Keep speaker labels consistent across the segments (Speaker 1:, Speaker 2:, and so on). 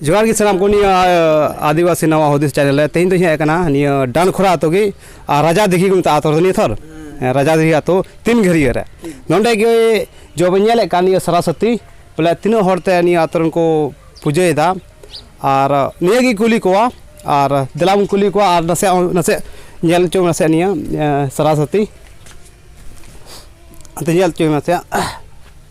Speaker 1: ᱡᱚᱦᱟᱨ ᱜᱮ ᱥᱟᱱᱟᱢ ᱠᱚ ᱱᱤᱭᱟᱹ ᱟᱹᱫᱤᱵᱟᱹᱥᱤ ᱱᱟᱣᱟ ᱦᱩᱫᱤᱥ ᱪᱮᱱᱮᱞ ᱨᱮ ᱛᱮᱦᱮᱧ ᱫᱚᱧ ᱦᱮᱡ ᱟᱠᱟᱱᱟ ᱱᱤᱭᱟᱹ ᱰᱟᱱᱠᱷᱚᱨᱟ ᱟᱛᱳ ᱜᱮ ᱟᱨ ᱨᱟᱡᱟ ᱫᱤᱜᱷᱤ ᱠᱚ ᱢᱮᱛᱟᱜᱼᱟ ᱟᱛᱳ ᱨᱮᱫᱚ ᱱᱤᱭᱟᱹ ᱛᱷᱚᱨ ᱨᱟᱡᱟ ᱫᱤᱜᱷᱤ ᱟᱛᱳ ᱛᱤᱱ ᱜᱷᱟᱹᱨᱭᱟᱹ ᱨᱮ ᱱᱚᱸᱰᱮ ᱜᱮ ᱡᱚ ᱵᱚᱱ ᱧᱮᱞᱮᱫ ᱠᱟᱱ ᱱᱤᱭᱟᱹ ᱥᱚᱨᱚᱥᱚᱛᱤ ᱵᱚᱞᱮ ᱛᱤᱱᱟᱹᱜ ᱦᱚᱲ ᱛᱮ ᱱᱤᱭᱟᱹ ᱟᱛᱳ ᱨᱮᱱ ᱠᱚ ᱯᱩᱡᱟᱹᱭᱮᱫᱟ ᱟᱨ ᱱᱤᱭᱟᱹ ᱜᱮ ᱠᱩᱞᱤ ᱠᱚᱣᱟ ᱟᱨ ᱫᱮᱞᱟ ᱵᱚᱱ ᱠᱩᱞᱤ ᱠᱚᱣᱟ ᱟᱨ ᱱᱟᱥᱮ ᱱᱟᱥᱮ ᱧᱮᱞ ᱦᱚᱪᱚ ᱱᱟᱥᱮ ᱱᱤᱭᱟᱹ ᱥᱚᱨᱚᱥᱚᱛᱤ ᱟᱫᱚ ᱧᱮᱞ ᱦᱚᱪᱚᱭ ᱢᱮᱥᱮ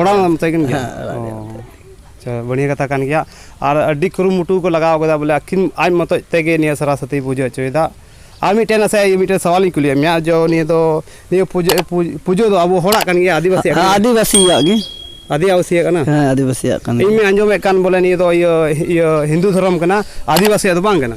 Speaker 1: ᱚᱲᱟᱜ ᱨᱮ ᱢᱮᱛᱟᱭ ᱠᱟᱱ ᱜᱮᱭᱟ ᱟᱪᱪᱷᱟ ᱵᱟᱹᱲᱤᱭᱟᱹ ᱠᱟᱛᱷᱟ ᱠᱟᱱ ᱜᱮᱭᱟ ᱟᱨ ᱟᱹᱰᱤ ᱠᱩᱨᱩᱢᱩᱴᱩ ᱠᱚ ᱞᱟᱜᱟᱣ ᱠᱟᱫᱟ ᱵᱚᱞᱮ ᱟᱹᱠᱤᱱ ᱟᱡ ᱢᱚᱛᱚᱡ ᱛᱮᱜᱮ ᱱᱤᱭᱟᱹ ᱥᱚᱨᱟᱥᱚᱛᱤ ᱯᱩᱡᱟᱹ ᱦᱚᱪᱚᱭᱮᱫᱟ ᱟᱨ ᱢᱤᱫᱴᱮᱱ ᱱᱟᱥᱮ ᱢᱤᱫᱴᱮᱱ ᱥᱟᱣᱟᱞᱤᱧ ᱠᱩᱞᱤᱭᱮᱫ ᱢᱮᱭᱟ ᱡᱚ ᱱᱤᱭᱟᱹ ᱫᱚ ᱱᱤᱭᱟᱹ ᱯᱩᱡᱟᱹ ᱯᱩᱡᱟᱹ ᱫᱚ ᱟᱵᱚ ᱦᱚᱲᱟᱜ ᱠᱟᱱ ᱜᱮᱭᱟ ᱟᱹᱫᱤᱵᱟᱹᱥᱤᱭᱟᱜ ᱠᱟᱱ ᱜᱮᱭᱟ ᱟᱹᱫᱤᱵᱟᱹᱥᱤᱭᱟᱜ ᱜᱮ
Speaker 2: ᱟᱹᱫᱤᱵᱟᱹᱥᱤᱭᱟᱜ
Speaker 1: ᱠᱟᱱᱟ ᱦᱮᱸ ᱟᱹᱫᱤᱵᱟᱹᱥᱤᱭᱟᱜ ᱠᱟᱱ ᱜᱮᱭᱟ
Speaker 2: ᱤᱧ ᱢᱟᱧ ᱟᱸᱡᱚᱢᱮᱫ ᱠᱟᱱ ᱵᱚᱞᱮ
Speaker 1: ᱱᱤᱭᱟᱹ ᱫᱚ ᱤᱭᱟᱹ ᱦᱤᱱᱫᱩ ᱫᱷᱚᱨᱚᱢ ᱠᱟᱱᱟ ᱟᱹᱫᱤᱵᱟᱹᱥᱤᱭᱟᱜ ᱫᱚ ᱵᱟᱝ ᱠᱟᱱᱟ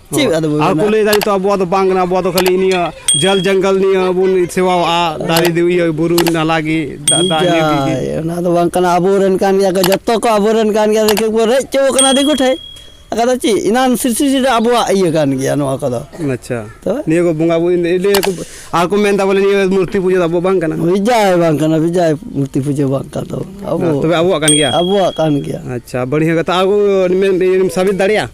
Speaker 2: ᱪᱮᱫ ᱟᱫᱚ ᱵᱚᱱ ᱟᱨ ᱠᱚ ᱢᱮᱱᱟ?
Speaker 1: ᱞᱟᱹᱭ ᱮᱫᱟ ᱱᱤᱛᱚᱜ ᱟᱵᱚᱣᱟᱜ ᱫᱚ ᱵᱟᱝ ᱠᱟᱱᱟ ᱟᱵᱚᱣᱟᱜ ᱫᱚ ᱠᱷᱟᱹᱞᱤ ᱱᱤᱭᱟᱹ ᱡᱚᱞ ᱡᱚᱝᱜᱚᱞ ᱱᱤᱭᱟᱹ ᱵᱚᱱ ᱥᱮᱵᱟᱣᱟᱜᱼᱟ ᱫᱟᱨᱮ ᱫᱤ- ᱤᱭᱟᱹ ᱵᱩᱨᱩ ᱱᱟᱞᱟ ᱜᱮ ᱫᱟᱜ ᱫᱟᱜ ᱤᱭᱟᱹ ᱜᱮ- ᱜᱮ ᱡᱟᱭ,
Speaker 2: ᱚᱱᱟ ᱫᱚ ᱵᱟᱝ ᱠᱟᱱᱟ ᱟᱵᱚᱨᱮᱱ ᱠᱟᱱ ᱜᱮᱭᱟ ᱠᱚ ᱡᱚᱛᱚ ᱠᱚ ᱟᱵᱚᱨᱮᱱ ᱠᱟᱱ ᱜᱮᱭᱟ ᱫᱤᱠᱩ ᱠᱚ ᱨᱮᱡ ᱪᱚ ᱠᱟᱱᱟ ᱫᱤᱠᱩ ᱴᱷᱮᱡ ᱟᱠᱟ ᱫᱚ ᱪᱮᱫ ᱮᱱᱟᱱ ᱥᱨᱤᱥᱴᱤ ᱫᱚ ᱟᱵᱚᱣᱟᱜ ᱤᱭᱟᱹ ᱠᱟᱱ ᱜᱮᱭᱟ ᱱᱚᱣᱟ ᱠᱚᱫᱚ ᱟᱪᱪᱷᱟ ᱛᱚᱵᱮ?
Speaker 1: ᱱᱤᱭᱟᱹ ᱠᱚ ᱵᱚᱸᱜᱟ ᱵᱩᱨᱩ ᱱᱤᱭᱟᱹ ᱠᱚ ᱟᱨ ᱠᱚ ᱢᱮᱱᱫᱟ ᱵᱚᱞᱮ ᱱᱤᱭᱟᱹ ᱢᱩᱨᱛᱤ ᱯᱩᱡᱟᱹ ᱫᱚ ᱟᱵᱚᱣᱟᱜ ᱵᱟᱝ ᱠᱟᱱᱟ ᱵᱤᱡᱟᱭ ᱵᱟᱝ ᱠᱟᱱᱟ ᱵᱤᱡᱟᱭ ᱢᱩᱨᱛᱤ ᱯᱩᱡᱟᱹ ᱵᱟᱝ ᱠᱟᱱ ᱛᱟᱵᱚᱱᱟ ᱟᱵᱚ ᱛᱚᱵᱮ ᱟᱵᱚᱣᱟᱜ ᱠᱟᱱ ᱜᱮᱭᱟ ᱟᱵᱚᱣᱟᱜ ᱠᱟᱱ ᱜᱮᱭᱟ ᱟᱪᱪᱷᱟ ᱵᱟᱹᱲᱤᱡ ᱠᱟᱛᱷᱟ ᱟᱨ ᱠᱚ ᱢᱮᱱ- ᱥᱟᱵᱤᱛ ᱫᱟᱲᱮᱭᱟᱜᱼᱟ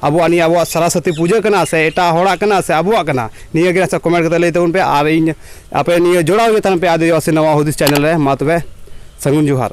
Speaker 1: ᱟᱵᱚᱣᱟᱜ ᱱᱤᱭᱟᱹ ᱟᱵᱚᱣᱟᱜ ᱥᱟᱨᱟᱥᱚᱛᱤ ᱯᱩᱡᱟᱹ ᱠᱟᱱᱟ ᱥᱮ ᱮᱴᱟᱜ ᱦᱚᱲᱟᱜ ᱠᱟᱱᱟ ᱥᱮ ᱟᱵᱚᱣᱟᱜ ᱠᱟᱱᱟ ᱱᱤᱭᱟᱹ ᱜᱮ ᱥᱮ ᱠᱚᱢᱮᱱᱴ ᱠᱟᱛᱮ ᱞᱟᱹᱭ ᱛᱟᱵᱚᱱ ᱯᱮ ᱟᱨ ᱤᱧ ᱟᱯᱮ ᱱᱤᱭᱟᱹ ᱡᱚᱲᱟᱣ ᱜᱮ ᱛᱟᱦᱮᱱ ᱯᱮ ᱟᱫᱤᱵᱟᱥᱤ ᱱᱟᱣᱟ ᱦᱩᱫᱤᱥ ᱪᱮᱱᱮᱞ ᱨᱮ ᱢᱟ ᱛᱚᱵᱮ ᱥᱟᱹᱜᱩᱱ ᱡᱚᱦᱟᱨ